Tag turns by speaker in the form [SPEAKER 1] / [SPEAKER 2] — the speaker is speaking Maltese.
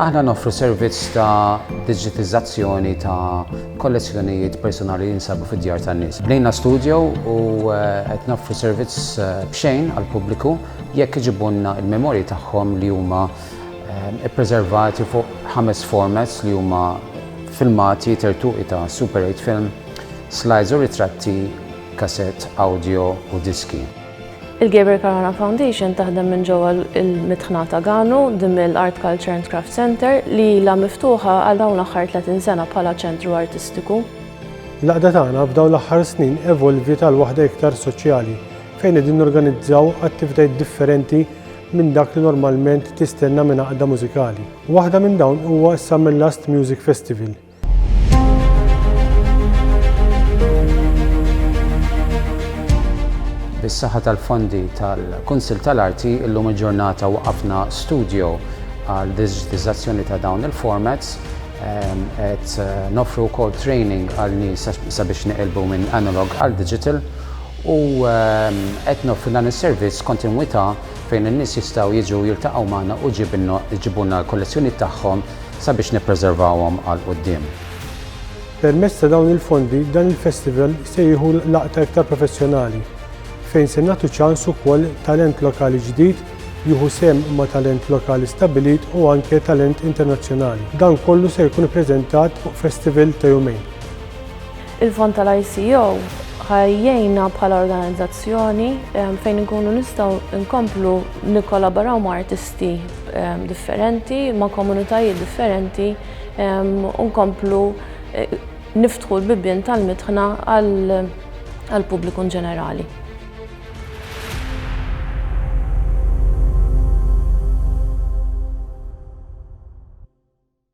[SPEAKER 1] Aħna noffru servizz ta' digitizzazzjoni ta' kollezzjonijiet personali li jinsabu fid-djar tan-nies. Bnejna studio u eh, qed noffru servizz eh, b'xejn għall-pubbliku jekk iġibunna il-memorji tagħhom li huma Ippreservati fuq ħames formats li huma filmati, tertuqi ta' Super 8 film, slides u ritratti, kasett, awdjo u diski. Il-Gabriel
[SPEAKER 2] Caruana Foundation taħdem minn ġewwa l-mitħna ta' Ganu, The Mill Art Culture and Craft Centre, li ilha miftuħa għal dawn l-aħħar 30 sena bħala ċentru artistiku. L-għaqda
[SPEAKER 3] tagħna f'dawn l-aħħar snin evolviet għal waħda iktar soċjali, fejn qegħdin norganizzaw attivitajiet differenti minn dak li normalment tistenna minn għaqda mużikali. Waħda minn dawn huwa s-Samellast Music Festival,
[SPEAKER 1] Bis-saħħa tal-fondi tal-Kunsill tal-Arti illum il-ġurnata waqafna studio għal diġitizzazzjoni ta' dawn il-formats ehm, qed eh, nofru wkoll training għal nies sabiex niqilbu minn analog għal digital u qed noffru dan is-servizz b'kontinwità fejn in-nies jistgħu jiġu jiltaqgħu magħna u jġibulna l-kollezzjonijiet tagħhom sabiex nippreservawhom għal quddiem. Permezz
[SPEAKER 3] ta' dawn il-fondi dan il-festival se jieħu laqta iktar professjonali fejn se nagħtu ċans ukoll talent lokali ġdid jieħu sehem ma' talent lokali stabbilit u anke talent internazzjonali. Dan kollu se jkun ippreżentat fuq festival ta' jumejn.
[SPEAKER 2] Il-fond tal-ICO ħa jgħinna bħala organizzazzjoni fejn inkunu nistgħu nkomplu nikkolaboraw ma' artisti differenti, ma' komunitajiet differenti u nkomplu niftħu l-bibien tal-mitħna għall-pubbliku inġenerali.